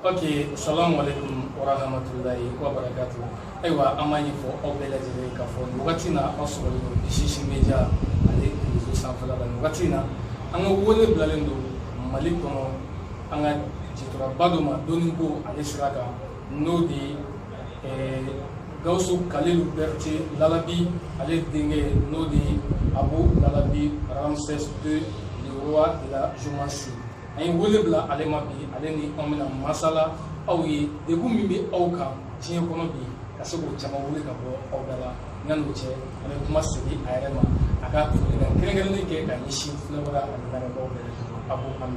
ok salamu aleykum wa rahmatulahi wa barakatu ayiwa an b'a ɲɛfɔ aw bɛɛ lajɛlen ye k'a fɔ nin wagati in na an sɔrɔlen don sisi media ale rezo sanfɛla la nin wagati in na an ka wele bilalen don mali kɔnɔ an ka jitoraba dɔ ma dɔnniko ale sira kan n'o de ye eh, gawusu kalilu bɛrite lalabi ale denkɛ n'o de ye abu lalabi ramses deux le roi de la géomancie an ye wele bila ale ma bi ale ni anw bɛna masala aw ye degun min bɛ aw kan diɲɛ kɔnɔ bi ka se k'o caman wuli ka bɔ aw da la yan'o cɛ an bɛ kuma segin a yɛrɛ ma a ka folikan kɛrɛnkɛrɛnnen kɛ ka ɲɛsin filɛbaga ani lamɛnbaaw bɛɛ a b'o an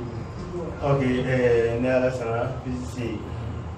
ok ne ala sara bisi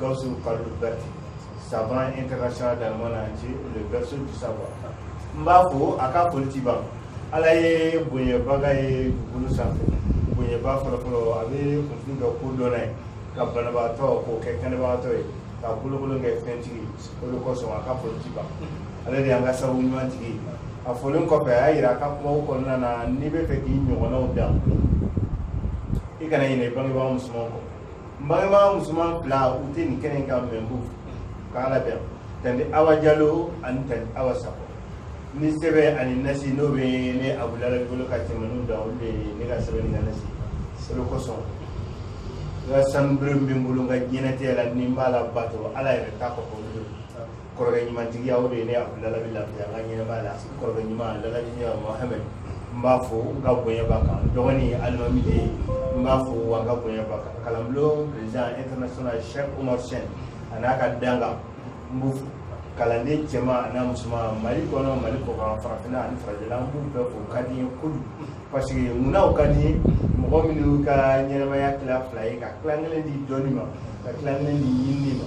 Gawusu Kalilu Bɛrite savant international dans le monde entier le berceau du savoir n b'a fo a ka foli ti ban Ala ye bonyabaga ye dugukolo sanfɛ bonyaba fɔlɔfɔlɔ a bɛ kunfin kɛ kodɔnna ye ka banabagatɔ k'o kɛ kɛnɛbagatɔ ye ka bolokolon kɛ fɛntigi o de kosɔn a ka foli ti ban ale de y'an ka sababu ɲuman tigi ye a folen kɔfɛ a y'a yira a ka kumaw kɔnɔna na n'i bɛ fɛ k'i ɲɔgɔnnaw dan i kana ɲinɛ i bangebaa musomanw kɔ Bangebaa musoman fila u tɛ nin kɛnɛ kan n b'u k' ala bɛ tanti awa jalo ani tanti awa sakɔ ni sɛbɛn ani nasi n'o bɛ ne abu lalabi bolo ka tɛmɛ da olu ne ka sɛbɛn ka nasi sɛbɛn kosɔn n ka sanu bɛ bolo ka ɲɛnajɛɛnɛ tɛ la ni b'a la bato ala yɛrɛ taa kɔ kɔrɔkɛ ɲumantigiya o de ye ne abu lalabi lafiya n ka ɲɛnɛmaya la kɔrɔkɛ ɲuman lalaji ne mohamɛd n b'a fo n ka bonya b'a kan n dɔgɔnin alimami de ye n b'a fo wa n ka bonya b'a kan kalanbulon président international chef omar sen a n'a ka danga n b'u fo kalanden cɛman a n'a musoman mali kɔnɔ mali kɔkan farafinna ani farajɛla n b'u bɛɛ fo u ka di n ye kojugu parce que munna u ka di n ye mɔgɔ minnu ka ɲɛnɛmaya tila fila ye ka tila kelen di dɔnni ma ka tila kelen di ɲinini ma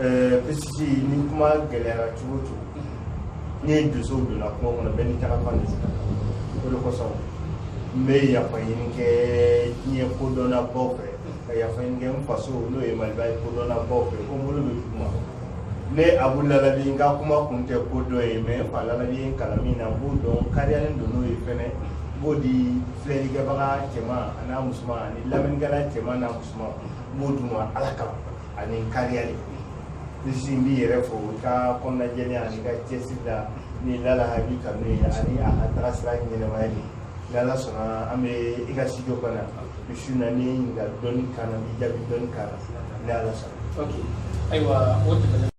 eh, parce que ni kuma gɛlɛyara cogo o cogo mhm. ni dosow donna kuma kɔnɔ bɛɛ n'i taga fan de sira o de kosɔn n bɛ yafa ɲini kɛ diɲɛ kodɔnnabaw fɛ ka yafa ɲini kɛ n faso n'o ye maliba ye kodɔnnabaw fɛ ko n bolo bɛ duguma ne abu lalabi n ka kuma kun tɛ ko dɔ ye mais n fa lalabi ye n kalan min na n b'o dɔn kariyalen don n'o ye fɛnɛ n b'o di filɛlikɛbaga cɛman an'a musoman ani lamɛnnikɛla cɛman n'a musoman n b'o d'u ma ala kama ani kariya de tun bɛ yen n b'i yɛrɛ fo i ka kɔnɔnajɛlenya ani i ka cɛsiri la ni lalabi kanu ye ani a ka taga sira ɲɛnɛmaya de ni ala sɔnna an bɛ i ka studio kɔnɔ misi na ni ɲininkali dɔnni kan na n b'i jaabi dɔnni kan na ni ala sɔnna. ok ayiwa o tɛmɛnen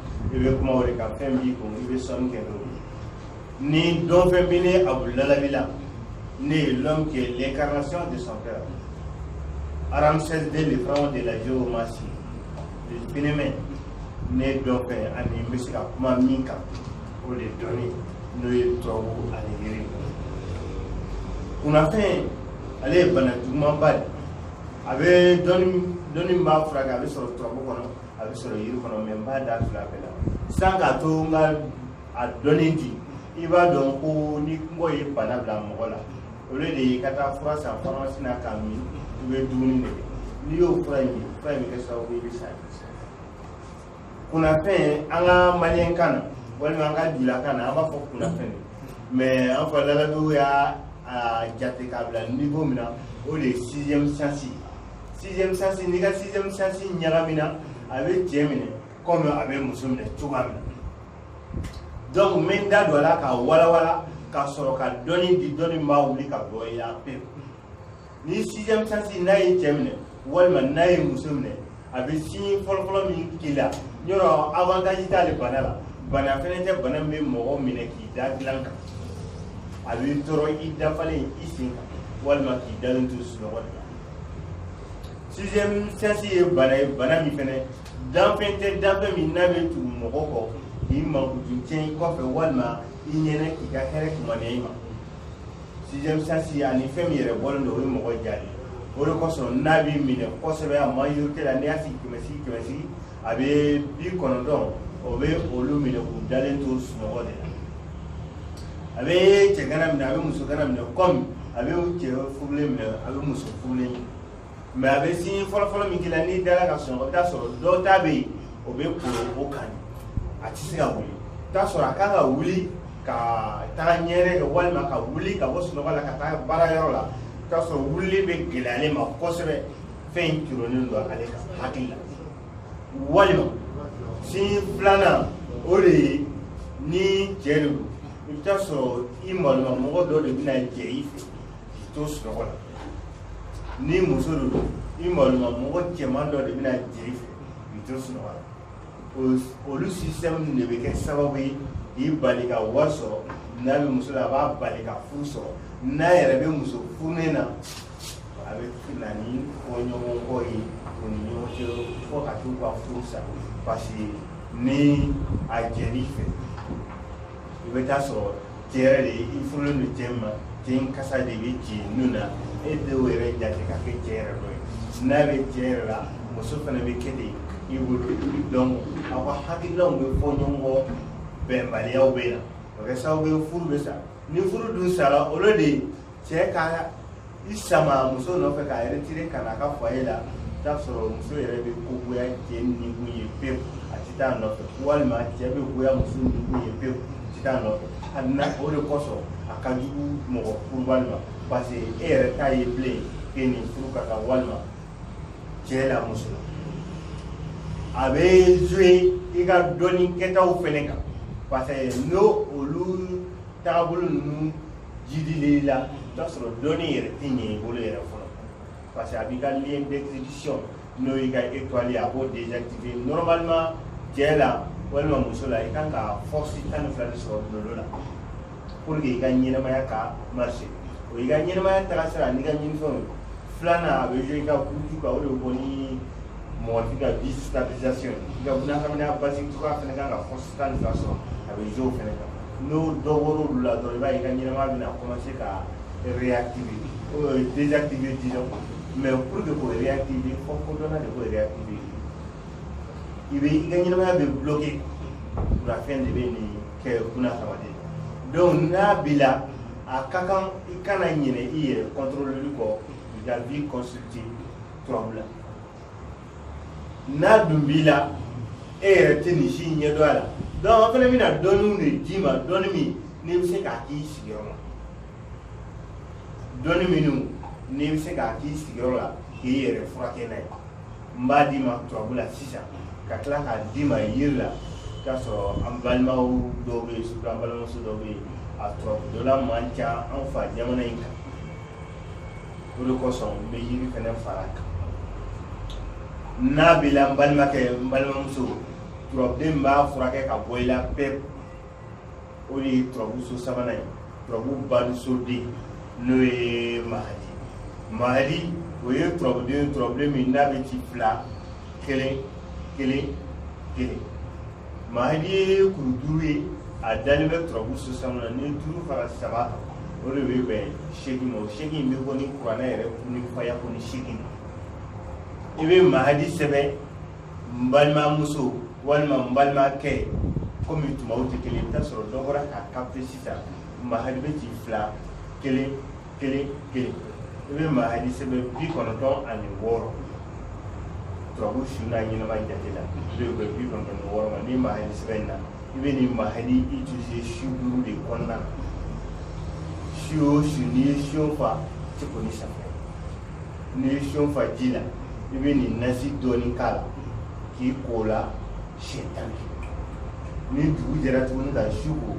i bɛ kuma o de kan fɛn b'i kun i bɛ sɔnni kɛ n'o ye ni dɔn fɛn bɛ ne abu lalabi la ne ye l'homme qui est l'incarnation de son père Ramsès II le pharaon de la géomancie le phénomène ne dɔn fɛn ani n bɛ se ka kuma min kan o de dɔnni n'o ye turabu ani yiri kunnafɛn ale ye bana jugumanba de a bɛ dɔnni dɔnni b'a furakɛ a bɛ sɔrɔ turabu kɔnɔ a bɛ sɔrɔ yiri kɔnɔ mɛ n b'a da fila bɛɛ la san k'a to n ka a dɔnni di i b'a dɔn ko ni kɔngɔ ye bana bila mɔgɔ la olu de y'i ka taa fura san faramasi na k'a min i bɛ dumuni de kɛ n'i y'o fura in min fura in bɛ kɛ sababu i bɛ sa kunnafɛn an ka maliyɛn kan na walima an ka jula kan na an b'a fɔ kunnafɛn de mɛ an fɔ lalabiw y'a jate k'a bila niwo min na o de ye sixième sens ye sixième sens n'i ka sixième sens ɲagami na a bɛ cɛ minɛ komi a bɛ muso minɛ cogoya min na donc n bɛ n da don a la ka walawala ka sɔrɔ ka dɔnni di dɔnni min b'a wuli ka bɔ i la pewu ni sixième sens n'a ye cɛ minɛ walima n'a ye muso minɛ a bɛ signe fɔlɔfɔlɔ min k'i la zéro avantage t'ale bana la bana fɛnɛ tɛ bana min bɛ mɔgɔ minɛ k'i da dilan kan a b'i tɔɔrɔ i dafalen i sen kan walima k'i dalen to sunɔgɔ de la sixième sens ye bana ye bana min fɛnɛ danfɛn tɛ danfɛn min n'a bɛ tugu mɔgɔ kɔ k'i mankutu tiɲɛ i kɔfɛ walima i ɲɛna k'i ka hɛrɛ kumaniya i ma sixième sens ani fɛn min yɛrɛ bɔlen don o ye mɔgɔ ja de o de kosɔn n'a b'i minɛ kosɛbɛ a majorité la n'i y'a sigi kɛmɛ sigi kɛmɛ sigi a bɛ bi kɔnɔntɔn o bɛ olu minɛ k'u dalen to sunɔgɔ de la a bɛ cɛgana minɛ a bɛ musogana minɛ kɔmi a bɛ cɛ furulen minɛ a bɛ muso furulen minɛ mɛ a bɛ signe fɔlɔfɔlɔ min k'i la n'i dara ka sunɔgɔ i bɛ t'a sɔrɔ dɔw ta bɛ yen o bɛ kolo o kan a tɛ se ka wuli i t'a sɔrɔ a kan ka wuli ka taga ɲɛgɛnɛ kɛ walima ka wuli ka bɔ sunɔgɔ la ka taa baara yɔrɔ la i t'a sɔrɔ wulili bɛ gɛlɛya ale ma kosɛbɛ fɛn in cɔrɔnnen don ale ka hakili la walima signe filanan o de ye ni cɛ de don i bɛ t'a sɔrɔ i maloma mɔgɔ dɔ de bɛna jɛ i fɛ k'i to sunɔgɔ la ni muso de don i maloma mɔgɔ cɛman dɔ de bɛna jɛ i fɛ k'i to sunɔgɔ la olu sisitɛmu de bɛ kɛ sababu ye k'i bali ka wari sɔrɔ n'a bɛ muso la a b'a bali ka furu sɔrɔ n'a yɛrɛ bɛ muso furulen na a bɛ na ni fɔɲɔgɔnkɔ ye u ni ɲɔgɔn cɛ fo ka t'u ka furu sa parce que ni a jɛn'i fɛ i bɛ t'a sɔrɔ cɛ yɛrɛ de i furulen don cɛ ma cɛ in kasa de bɛ c'i nun na e denw yɛrɛ jate ka kɛ cɛ yɛrɛ dɔ ye n'a bɛ cɛ yɛrɛ la muso fana bɛ kɛ ten i bolo donc aw ka hakilinaw bɛ fɔ ɲɔgɔn kɔ bɛnbaliyaw bɛ na o kɛ sababu ye furu bɛ sa ni furu dun sara olu de cɛ ka i sama muso nɔfɛ k'a retirer ka na a ka foyer la t'a sɔrɔ muso yɛrɛ bɛ ko goya cɛ nikun ye pewu a tɛ taa nɔfɛ walima cɛ bɛ goya muso nikun ye pewu a tɛ taa nɔfɛ a na o de kosɔn a ka jugu mɔgɔ furubali ma parce que e yɛrɛ t'a ye bilen k'e ni furu ka kan walima cɛ la muso la a bɛ jouer i ka dɔnni kɛtaw fɛnɛ kan parce que n'o olu taabolo ninnu jidili la i b'a sɔrɔ dɔnni yɛrɛ tɛ ɲɛ i bolo yɛrɛ fɔlɔ parce que a b'i ka lien d'exécution n'o y'i ka étoile a b'o désactiver normalement cɛ la walima muso la i kan ka force tan ni fila de sɔrɔ dolo la pour que i ka ɲɛnamaya ka marcher o y'i ka ɲɛnamaya tagasira n'i ka ɲinifɛnw filanan a bɛ jouer i ka buruju kan o de bɛ bɔ ni mɔgɔ tɛ ka vie stabilisation i ka bunahadamadenya basigicogoya fana kan ka force tan ni fila sɔrɔ a bɛ jouer o fana kan n'o dɔ bɔra olu la dɔrɔn i b'a ye i ka ɲɛnamaya bɛna commencer ka réactiver euh, désactiver disons mais pour que k'o réactiver fɔ kodɔnna de k'o réactiver i bɛ i ka ɲɛnamaya bɛ bloquer kunnafɛn de bɛ nin kɛ bunahadamaden donc n'a b'i la a ka kan i kana ɲinɛ i yɛrɛ contrôler kɔ i ka vie consulter turabu la n'a dun b'i la e yɛrɛ tɛ nin si in ɲɛdɔn a la donc an fana bɛna dɔnniw de d'i ma dɔnni min n'i bɛ se k'a k'i sigiyɔrɔ la dɔnni minnu n'i bɛ se k'a k'i sigiyɔrɔ la k'i yɛrɛ furakɛ n'a ye n b'a d'i ma turabu la sisan ka tila k'a d'i ma yiri la k'a sɔrɔ an balimaw dɔw bɛ yen surtout an balimamuso dɔw bɛ yen a turabu dɔnna man ca an fa jamana in kan o de kosɔn n bɛ yiri fana fara kan n'a b'i la n balimakɛ n balimamuso turabuden min b'a furakɛ ka bɔ i la pewu o de ye turabu so sabanan ye turabu balisoden n'o ye mahadi mahadi o ye turabuden turabuden min n'a bɛ ci fila kelen kelen kelen mahadi ye kuru duuru ye a dalen bɛ turabu so saba na ni duuru fara saba o de bɛ bɛn seegin ma o seegin in bɛ bɔ ni kuranɛ yɛrɛ ni faya ko ni seegin i bɛ mahadi sɛbɛn n balimamuso walima n balimakɛ komi tumaw tɛ kelen i bɛ taa sɔrɔ dɔ bɔra k'a capter sisan mahadi bɛ ci fila kelen kelen kelen i bɛ maa hali sɛbɛn bi kɔnɔntɔn ani wɔɔrɔ turabu su n'a ɲɛnama jate la i bɛ bi kɔnɔntɔn ni wɔɔrɔ ma ni maa hali sɛbɛn in na i bɛ nin maa hali utiliser su duuru de kɔnɔna na su o su n'i ye siyon fa tɛ ko ni safunɛ n'i ye siyon fa ji la i bɛ nin nasi dɔɔni k'a la k'i ko o la siɲɛ tan ni kelen ni dugu jɛra tuguni ka su ko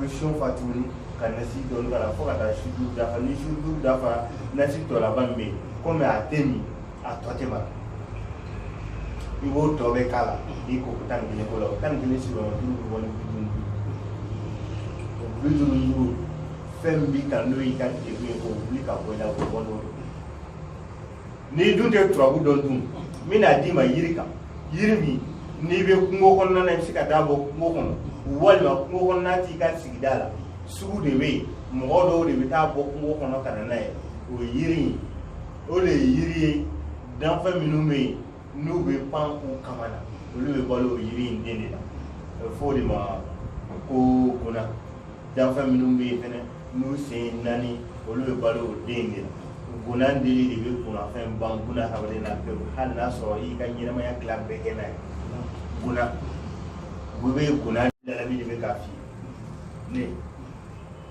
siyon fa tuguni ka nasi dɔɔni k'a la fo ka taa su duuru dafa ni su duuru dafara nasi tɔ laban min bɛ yen komi a tɛ min a tɔ tɛ mara i b'o tɔ bɛɛ k'a la i ko ko tan ni kelen ko la o tan ni kelen sigiyɔrɔma duuru bɛ bɔ ni bi duuru o bi duuru duuru fɛn min b'i kan n'o y'i ka degun ye k'o wuli ka bɔ i la k'o bɔ n'o ye n'i dun tɛ turabu dɔn dun n bɛ n'a d'i ma yiri kan yiri min n'i bɛ kungo kɔnɔna na i bɛ se ka taa bɔ kungo kɔnɔ walima kungo kɔnɔna t'i ka sigida la sugu de bɛ yen mɔgɔ dɔw de bɛ taa bɔ kungo kɔnɔ ka na n'a ye o ye yiri in o de ye yiri ye danfɛn minnu bɛ yen n'u bɛ pan u kaman na olu bɛ balo yiri in den de la a bɛ fɔ o de ma ko guna danfɛn minnu bɛ yen fɛnɛ n'u sen naani olu bɛ balo o den de la guna dili de bɛ kunafɛn ban guna hadamaden na pewu hali n'a sɔrɔ i ka ɲɛnamaya tila bɛɛ kɛ n'a ye guna u bɛ guna lalabi de bɛ k'a f'i ye ne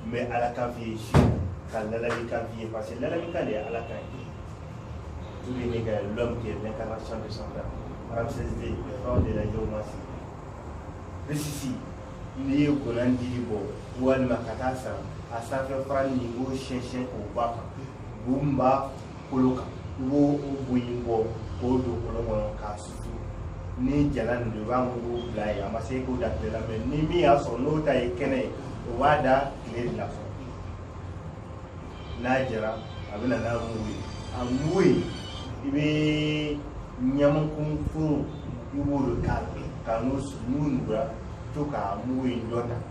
n bɛ ala kan f'i ye sɔrɔ ka lalabi kan f'i ye parce que lalabi kan de ye ala kan ye tout le monde est l'homme qui est l'incarnation de son père ramsès de le fɛnw de la jɔw ma se risisi n'i ye guna dili bɔ walima ka taa san a sanfɛ fara nin i b'o siyɛnsiyɛn k'o bɔ a kan bu min b'a kolo kan i b'o bu in bɔ k'o don kolon kɔnɔ k'a susu ni jalan don i b'a mugu bila yen a ma se k'o da tile la mɛ ni min y'a sɔrɔ n'o ta ye kɛnɛ ye o b'a da tile de la fɔlɔ n'a jara a bɛ na n'a mugu ye a mugu in i bɛ ɲamaku kuru i b'o de k'a la ka n'o n'u nugura to k'a mugu in dɔ ta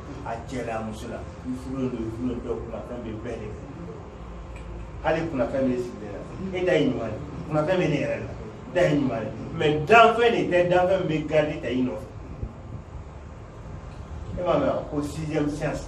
a cɛla a muso la i furu don i furu dɔ kunafɛn bɛ bɛɛ de fɛ hali kunafɛn bɛ sigi la e da ye ɲuman ye kunafɛn bɛ ne yɛrɛ la da ye ɲuman ye mɛ danfɛn de tɛ danfɛn bɛ garidi ta i nɔfɛ e m'a mɛn ko sixième sens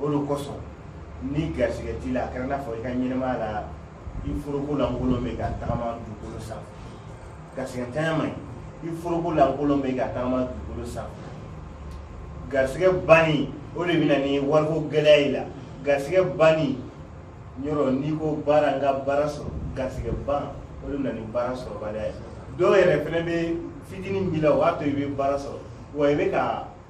o de kosɔn ni garisɛgɛ t'i la a kɛra n'a fɔ i ka ɲɛnamaya la i foroko lankolon bɛ ka tagama dugukolo sanfɛ garisɛgɛtanya man ɲi i foroko lankolon bɛ ka tagama dugukolo sanfɛ garisɛgɛ banni o de bɛ na ni wariko gɛlɛya y'i la garisɛgɛ banni yɔrɔ n'i ko baara n ka baara sɔrɔ garisɛgɛ ban o de bɛ na ni baara sɔrɔbaliya ye dɔw yɛrɛ fana bɛ fitinin b'i la o b'a to i bɛ baara sɔrɔ wa i bɛ ka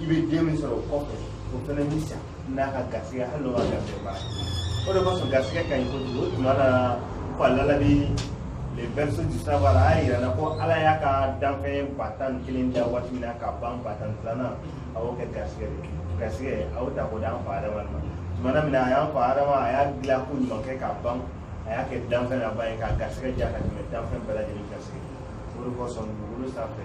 i bɛ den min sɔrɔ o kɔfɛ o fana b'i sa n'a ka garisɛgɛ hali n'o ka garisɛgɛ baara o de kosɔn garisɛgɛ ka ɲi kojugu o tuma na ko a lalabi le berceau du savoir a y'a yira na ko ala y'a ka danfɛn ba tan ni kelen da waati min na ka ban ba tan ni filanan a y'o kɛ garisɛgɛ de garisɛgɛ a y'o ta k'o d'an fa adama ma tuma na min na a y'an fa adama a y'a dilan ko ɲuman kɛ ka ban a y'a kɛ danfɛn laban ye k'a garisɛgɛ diya ka tɛmɛ danfɛn bɛɛ lajɛlen garisɛgɛ o de kosɔn dugukolo sanfɛ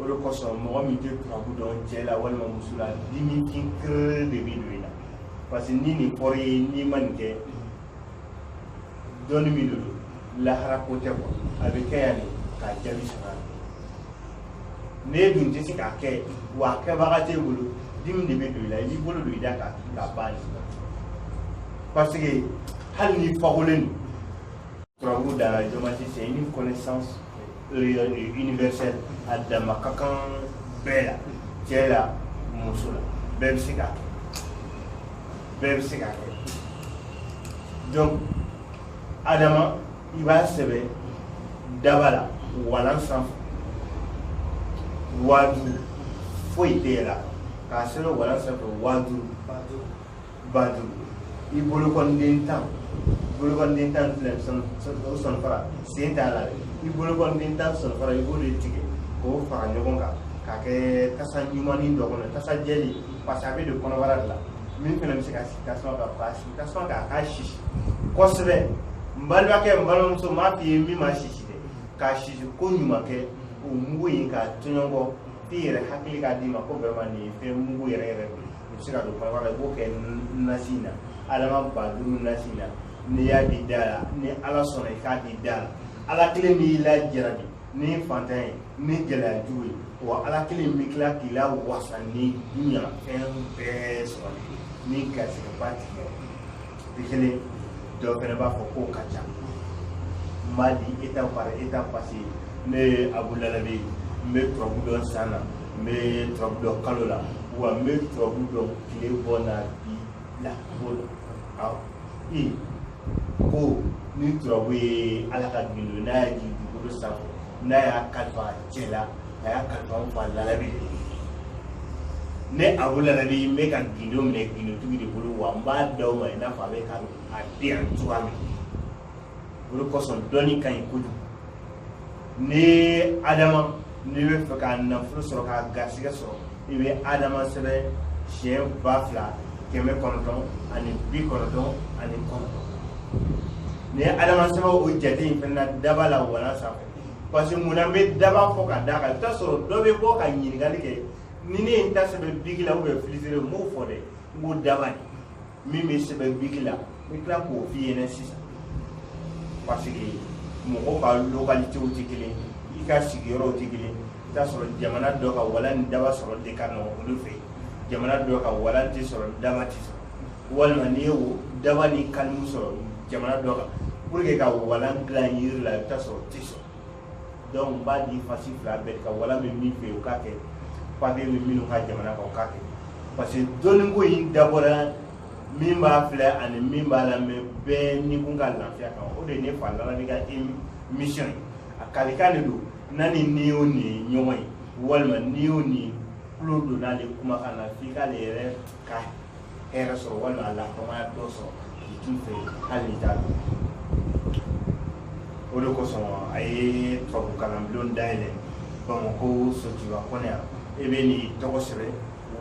o de kosɔn mɔgɔ min tɛ turabu dɔn cɛ la walima muso la dimi kin kere de bɛ don i la parce que ni nin fɔra ye n'i ma nin kɛ dɔnni min de don lahara ko tɛ kuwa a bɛ kɛ yan de k'a jaabi sɔrɔ yan n'e dun tɛ se k'a kɛ wa a kɛbaga t'e bolo dimi de bɛ don i la i b'i bolo don i da kan k'a ban parce que hali n'i fakolen don Turabu la géomancie c'est une connaissance euh, universelle adama ka kan bɛɛ la cɛ la muso la bɛɛ bɛ se k'a kɛ bɛɛ bɛ se k'a kɛ donc adama i b'a sɛbɛn daba la walan sanfɛ waa duuru foyi tɛ yɛlɛn a kan k'a sɛbɛn walan sanfɛ waa duuru ba duuru i bolokɔniden tan bolokɔniden tan filɛ o sɔnfara sen t'a la dɛ i bolokɔniden tan sɔnfara i b'o de tigɛ k'o fara ɲɔgɔn kan k'a kɛ tasa ɲumannin dɔ kɔnɔ tasa jɛlen parce que a bɛ don kɔnɔbara de la min fana bɛ se ka sigi tasuma kan k'a sigi tasuma kan a k'a sisi kosɛbɛ n balimakɛ n balimamuso n b'a f'i ye min ma sisi dɛ k'a sisi ko ɲuman kɛ o mugu in k'a tɔɲɔgɔn f'i yɛrɛ hakili k'a d'i ma ko vraiment nin ye fɛn mugu yɛrɛ yɛrɛ de ye I bɛ se ka don kɔnɔbara la, i b'o kɛ nasi in na adama ba duuru nasi in na, n'i y'a k'i da la, ni Ala sɔnna i k'a k'i da la, Ala kelen b'i lajarabi ni faantan ye, ni gɛlɛya jugu ye, wa Ala kelen bɛ tila k'i lawasa ni dunya fɛn bɛɛ sɔrɔli ye, ni garisɛgɛba t'i la. bi kelen dɔw fɛnɛ b'a fɔ k'o ka ca n b'a di étape par étape parce que ne ye abu lalabi n bɛ turabu dɔn san na n bɛ turabu dɔn kalo la wa n bɛ turabu dɔn tile bɔ n'a bin na ko la awɔ i ko ni turabu ye ala ka gindo n'a y'a jigin dugukolo sanfɛ n'a y'a kalifa a ye cɛ la a y'a kalifa n fa lalabi de ye ne abu lalabi n bɛ ka gindo minɛ gindotigi de bolo wa n b'a d'aw ma i n'a fɔ a bɛ ka a di yan cogoya min o de kosɔn dɔnni ka ɲi kojugu ni adama n'i b'a fɛ ka nafolo sɔrɔ ka garisɛgɛ sɔrɔ i bɛ adama sɛbɛn siɲɛ ba fila kɛmɛ kɔnɔntɔn ani bi kɔnɔntɔn ani kɔnɔntɔn n'i ye adama sɛbɛn o jate in fana daba la walan sanfɛ parce que munna n bɛ daba fɔ ka d'a kan i bɛ t'a sɔrɔ dɔ bɛ bɔ ka ɲininkali kɛ ni ne ye n ta sɛbɛn biki la ou bien filetiri n b'o fɔ dɛ n ko daba de min bɛ sɛbɛn biki la n bɛ tila k'o f'i ɲɛna sisan parce que mɔgɔw ka localités tɛ kelen ye i ka sigiyɔrɔw tɛ kelen ye i bɛ t'a sɔrɔ jamana dɔ kan walan ni daba sɔrɔli de ka nɔgɔn olu fɛ yen jamana dɔ kan walan tɛ sɔrɔ ni daba tɛ sɔrɔ walima n'i ye daba ni kan sɔrɔ jamana dɔ kan pour que ka walan dilan yiri la i bɛ t'a sɔrɔ a tɛ sɔrɔ donc n b'a di fasi fila bɛɛ kan walan bɛ min fɛ yen o k'a kɛ papiye bɛ minnu ka jamana kan o k'a kɛ parce que dɔnniko in dabɔra min b'a filɛ ani min b'a lamɛn bɛɛ ni kun ka lafiya kan o de ye ne fa lala ne ka mission ye a kalikan de don n'a ni ni o ni ye ɲɔgɔn ye walima ni o ni tulo donna ale kumakan na f'i k'ale yɛrɛ ka hɛrɛ sɔrɔ walima a lakamaya dɔ sɔrɔ k'i t'u fɛ hali n'i t'a dɔn o de kosɔn a ye turabu kalanbulon dayɛlɛ bamakɔ sotuba kɔnɔ yan i bɛ nin tɔgɔ sɛbɛn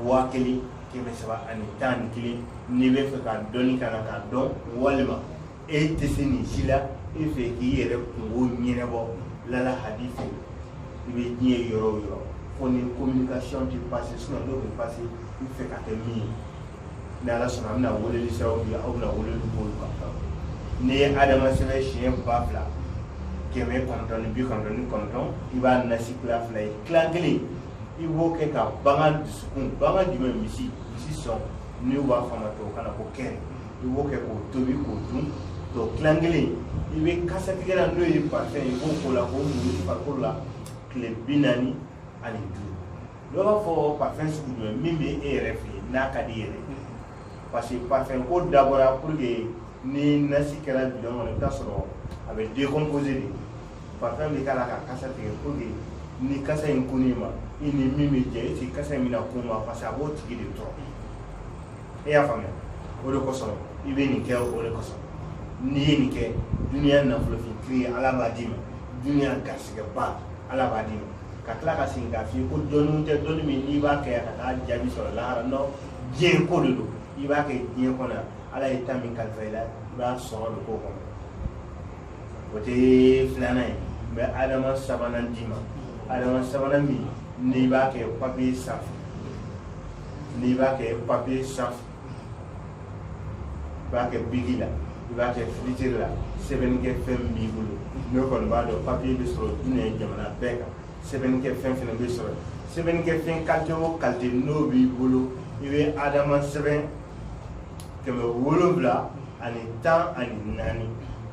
waa kelen kɛmɛ saba ani tan ni kelen n'i b'a fɛ ka dɔnni kalan k'a dɔn walima e tɛ se nin si la e fɛ k'i yɛrɛ kunko ɲɛnabɔ lala hadi fɛ i bɛ diɲɛ yɔrɔ o yɔrɔ fo ni communication tɛ passé sinon n'o bɛ passé i b'a fɛ ka kɛ min ye ni ala sɔnna an bɛna weleli siraw di aw bɛna weleli k'olu kan n'i ye adama sɛbɛn siɲɛ ba fila kɛmɛ kɔnɔntɔn ni bi kɔnɔntɔn ni kɔnɔntɔn i b'a nasi tila fila ye tila kelen i b'o kɛ ka bagan dusukun bagan jumɛn misi misi sɔn n'u b'a fɔ a ma tubabukan na ko cœur i b'o kɛ k'o tobi k'o dun tɔ tilan kelen i bɛ kasatigɛlan n'o ye parfum i b'o k'o la k'o mun i farikolo la tile bi naani ani duuru dɔ b'a fɔ parfum sugu jumɛn min bɛ e yɛrɛ fɛ yen n'a ka di yɛrɛ parce que parfum ko dabɔra pour que ni nasi kɛra bidɔn kɔnɔ i bɛ t'a sɔrɔ a bɛ décomposer de parfum bɛ k'a la ka kasa tigɛ pour que ni kasa in kunni ma i ni min bɛ jɛ i sigi kasa in bɛna kun ma parce que a b'o tigi de tɔɔrɔ e y'a faamuya o de kosɔn i bɛ nin kɛ o de kosɔn n'i ye nin kɛ duniya nafolo fin kiri ala b'a d'i ma duniya garisɛgɛba ala b'a d'i ma ka tila ka segin k'a f'i ye ko dɔnni tɛ dɔnni min n'i b'a kɛ ka t'a jaabi sɔrɔ lahara non diɲɛ ko de don i b'a kɛ diɲɛ kɔnɔ ala ye ta min kalifa i la i b'a sɔrɔ de k'o kɔnɔ o de filanan ye n bɛ adama sabanan d'i ma adama sabanan min n'i b'a kɛ papiye sanfɛ n'i b'a kɛ papier sanfɛ i b'a kɛ biki la i b'a kɛ filetiri la sɛbɛnnikɛ fɛn min b'i bolo ne kɔni b'a dɔn papiye bɛ sɔrɔ diɲɛ jamana bɛɛ kan sɛbɛnnikɛ fɛn fana bɛ sɔrɔ sɛbɛnnikɛ fɛn kalite o kalite n'o b'i bolo i bɛ adama sɛbɛn kɛmɛ wolonwula ani tan ani naani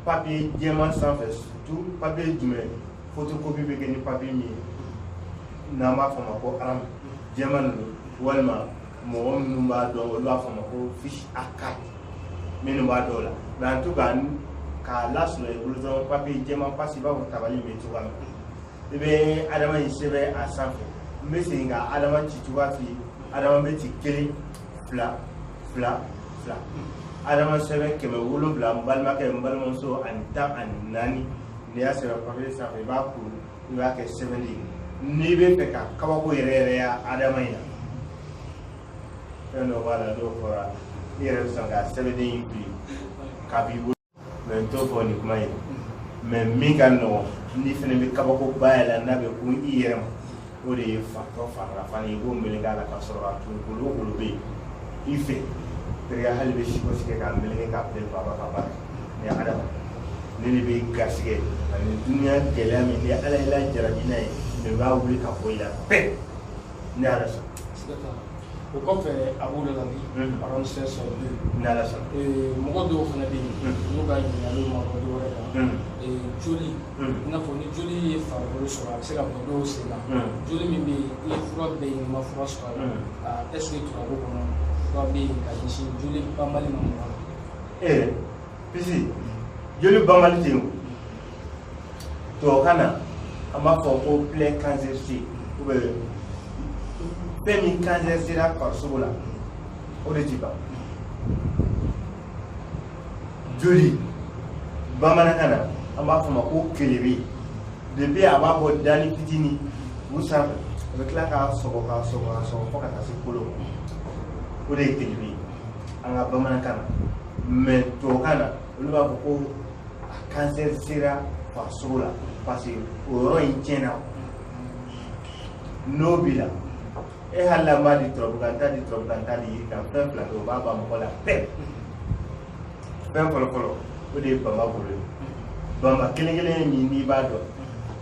papiye jɛman sanfɛ tu papiye jumɛn photocopie bɛ kɛ ni papier min ye n'an b'a fɔ ma ko rame jɛman ninnu walima mɔgɔ minnu b'a dɔn olu b'a fɔ ma ko fiche A4 minnu b'a dɔn o la mɛ an to ka k'a lasɔrɔ i bolo dɔrɔn papiye jɛman pasi i n'a fɔ tabali bɛ cogoya min i bɛ adama in sɛbɛn a sanfɛ n bɛ segin ka adama ci cogoya f'i ye adama bɛ ci kelen fila fila fila adama sɛbɛn kɛmɛ wolonwula n balimakɛ n balimamuso ani tan ani naani n'i y'a sɛbɛn papiye sanfɛ i b'a kuru i b'a kɛ sɛbɛnden ye n'i b'a fɛ ka kabako yɛrɛ yɛrɛ ye adama in na fɛn dɔ b'a la n'o fɔra i yɛrɛ bɛ sɔn ka sɛbɛnden in fili k'a bɔ i bolo mɛ n t'o fɔ nin kuma ye mɛ min ka nɔgɔn n'i fana bɛ kabako ba y'a la n'a bɛ kun i yɛrɛ ma o de ye fatɔ farala fana ye ko meleke a la ka sɔrɔ a tun kolo kolo bɛ yen i fɛ teriya hali bɛ siko sigi k'a meleke k'a bɛn baba ka baara ni adama ne de bɛ garisɛgɛ ani dunuya gɛlɛya min ni ala y'i lajarabi n'a ye ne b'a wuli ka bɔ i la bɛɛ ni ala sɔn o kɔfɛ a b'o de la bi parɔn sɛ sɔrɔ bi n'ala sɔnna mɔgɔ dɔw fana bɛ yen n'u ka ɲininkaliw ma bɔ dɔwɛrɛ kan joli i n'a fɔ ni joli ye farikolo sɔrɔ a bɛ se ka bɔ dɔw sen na joli min bɛ yen i ye fura bɛɛ ɲini i ma fura sɔrɔ a la ɛseke turabu kɔnɔ fura bɛ yen ka ɲɛsin joli banbali ma mɔgɔ la ee pisi joli banbali tɛ yen o tubabukan na an b'a fɔ ko plaie cancéreuse ou bien fɛn min cancer sera farisogo la o de ti ban joli bamanankan na an b'a fɔ ma ko kelebe depuis a b'a bɔ dani fitini u sanfɛ a bɛ tila k'a sɔgɔ k'a sɔgɔ k'a sɔgɔ fo ka taa se kolo ma o de ye kelebe ye an ka bamanankan na mɛ tubabukan na olu b'a fɔ ko kansɛri sera farisogo la parce que o yɔrɔ in tiɲɛna n'o b'i la e hali n'an m'a di turabu kan n t'a di turabu kan n t'a di yiri kan fɛn fila kɛ o b'a ban mɔgɔ la pɛɛ fɛn fɔlɔ fɔlɔ o de ye bama golo ye bama kelen kelen min n'i b'a dɔn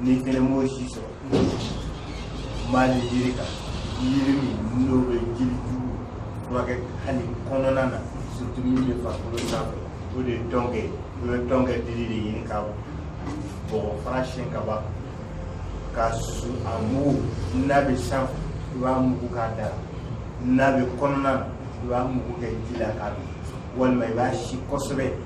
n'i fana m'o si sɔrɔ mali yiri kan yiri min n'o bɛ joli jugu furakɛ hali kɔnɔna na surtout min bɛ farikolo sanfɛ o de ye tɔnkɛ ye i bɛ tɔnkɛ dili de ɲini ka bɔ k'a fara siyɛn ka ban k'a susu a mugu n'a bɛ sanfɛ i b'a mugu k'a da n'a bɛ kɔnɔna na i b'a mugu kɛ ji la k'a min walima i b'a si kosɛbɛ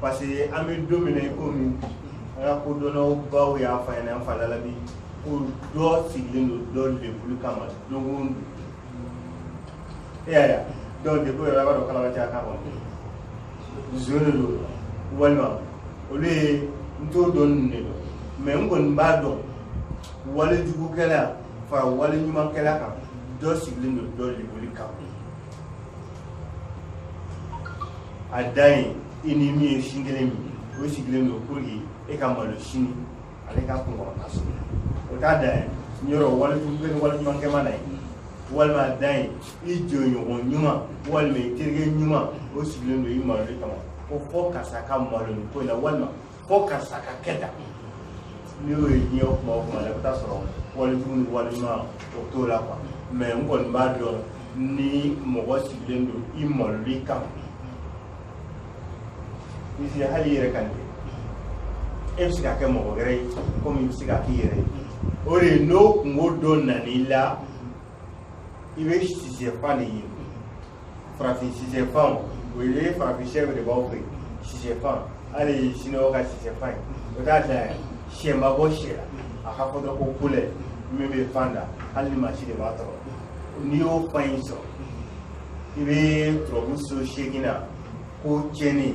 parce que an bɛ don min na i komi an ka kodɔnnabaw y'a fɔ an ɲɛna an fa Lalabi ko dɔ sigilen don dɔ lebuli kama don o don e y'a ye a donc degun yɛrɛ a b'a dɔn kalama tɛ a kan kɔnɔ zo de don walima olu ye n t'o dɔn ninnu de dɔn mɛ n kɔni b'a dɔn walejugukɛla fara waleɲumankɛla kan dɔ sigilen don dɔ lebuli kama a da ye i ni min ye sin kelen min o sigilen don pour que e ka malo sini ale ka kunkɔrɔta sɔrɔ o t'a da ye yɔrɔ wali bɛ ni waleɲuman kɛ maa na ye walima a da ye i jɔɲɔgɔn ɲuman walima i terikɛ ɲuman o sigilen don i malo de kama ko fo karisa ka malo nin ko in na walima fo karisa ka kɛ tan n'i y'o ye diɲɛ kuma o kuma la i bɛ taa sɔrɔ walejugu ni walima o t'o la kuwa mɛ n kɔni b'a dɔn ni mɔgɔ sigilen don i maloli kama hali i yɛrɛ ka nin kɛ e bɛ se ka kɛ mɔgɔ wɛrɛ ye komi i bɛ se ka k'i yɛrɛ ye o de ye n'o kunko dɔ nan'i la i bɛ sisɛfan de ye farafin sisɛfan o ye farafin sɛ de b'aw fɛ sisɛfan hali siniwaw ka sisɛfan ye o t'a da yan sɛ ma bɔ sɛ la a ka fɔ dɔrɔn ko kolɛ min bɛ fan da hali ni mansin de b'a tɔrɔ n'i y'o fan in sɔrɔ i bɛ turabu so seegin na ko tiɲɛni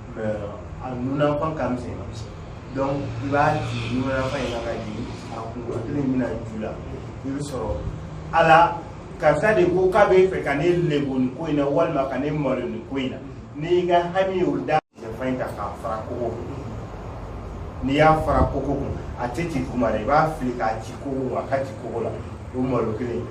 a nunafan ka misɛn donc i b'a jigin nunafan in na ka jigin a kunkolo kelen b'a ju la i bɛ sɔrɔ ala karisa de ko k'a bɛ fɛ ka ne lebo nin ko in na walima ka ne malo nin ko in na n'i y'i ka hami y'o da sɛfan in ta k'a fara kogo kun n'i y'a fara kogo kun a tɛ ci kuma la i b'a fili k'a ci kogo kun a ka ci kogo la o malo kelen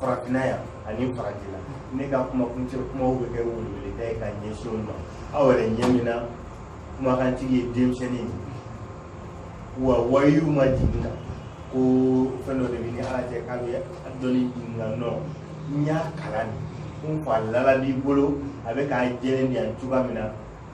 farafinna yan ani farajɛla ne ka kumakuncɛ kumaw bɛ kɛ weleweleda ye ka ɲɛsin aw ma aw yɛrɛ ɲɛ bɛ n na kumakantigi ye denmisɛnnin ye wa wayu ma jigin n na ko fɛn dɔ de bɛ n ni ala cɛ k'a bɛ dɔnni jigin n na non n y'a kalan de n fa Lalabi bolo a bɛ k'a jɛlen di yan cogoya min na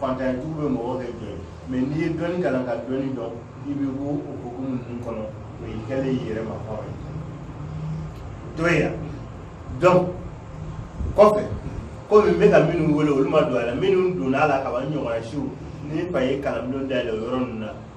fantantigiw bɛ mɔgɔ kɛ jɔn ye mɛ n'i ye dɔnni kalan ka dɔnni dɔn i bɛ bɔ o hukumu ninnu kɔnɔ o y'i kɛlen y'i yɛrɛ ma hɔrɔn ye to ye yan dɔn kɔfɛ komi n bɛ ka minnu wele olu ma don a la minnu donna a la kaban n ɲɔgɔnna siw ni fa ye kalanbulon dayɛlɛ o yɔrɔ ninnu na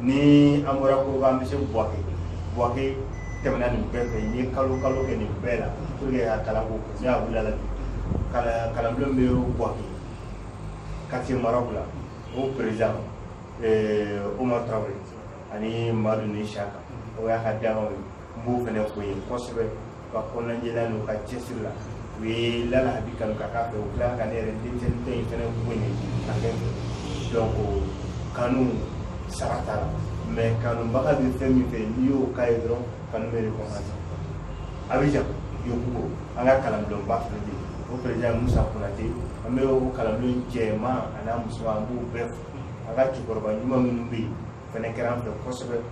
ni an bɔra ko an bɛ se buwake buwake tɛmɛna nin bɛɛ fɛ n ye kalo kalo kɛ nin bɛɛ la pour que ka kalan ko ne y'a wuli Lalabi kalan kalanbulon bɛ buwake quartier maraw la o président eh, Omar Traoré ani Madu ni Saka o y'a ka dankanw ye n b'o fana fo ye kosɛbɛ ka kɔnɔnajɛya la n'u ka cɛsiri la u ye lala habi kanu ka k'a fɛ u tila ka ne yɛrɛ denmisɛnnin tɛ in fɛnɛ ko nin ka kɛ donc kanu sara t'a la mais kanubaga bɛ fɛn min fɛ n'i y'o k'a ye dɔrɔn kanu bɛ récompense abidjan yopougon an ka kalanbulonba fana bɛ yen o président musa konate an bɛ o kalanbulon jɛman an'a musoman an b'u bɛɛ fo an ka cɛkɔrɔba ɲuman minnu bɛ yen fɛnɛ kɛra an fɛ kosɛbɛ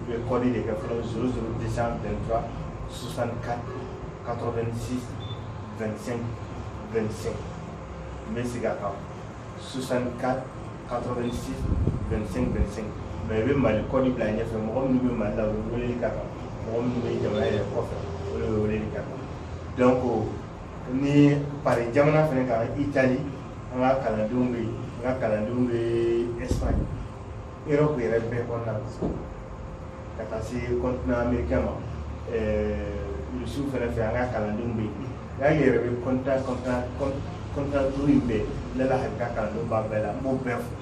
u bɛ kɔdi de kɛ fɔlɔ 00223 64 86 25 25 n bɛ segin a kan 64 86 25 25 mais i bɛ mali kɔdi bila ɲɛfɛ mɔgɔ minnu bɛ mali la u bɛ weleli k'a kan mɔgɔ minnu bɛ jamana yɛrɛ kɔfɛ olu bɛ weleli k'a kan donc ni pari jamana fana kan itali an ka kalandenw bɛ yen an ka kalandenw bɛ espagne Europe yɛrɛ bɛɛ kɔnɔna na ka taa se continent americain ma ɛɛ Russie fana fɛ an ka kalandenw bɛ yen nka n yɛrɛ bɛ continent continent continent duuru in bɛɛ ne la hakili la kalandenw b'a bɛɛ la n b'o bɛɛ fo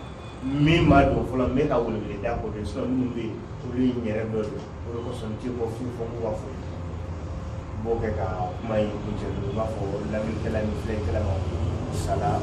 min ma don fɔlɔ n bɛ ka weleweleda k'o de sinon minnu bɛ yen olu ye n yɛrɛ dɔ de ye o de kosɔn n tɛ bɔ fiyewu fo n k'u ka fo n b'o kɛ ka kuma in kuncɛ dɔrɔn n b'a fɔ lamɛnnikɛla ni filɛlikɛla ma ko salam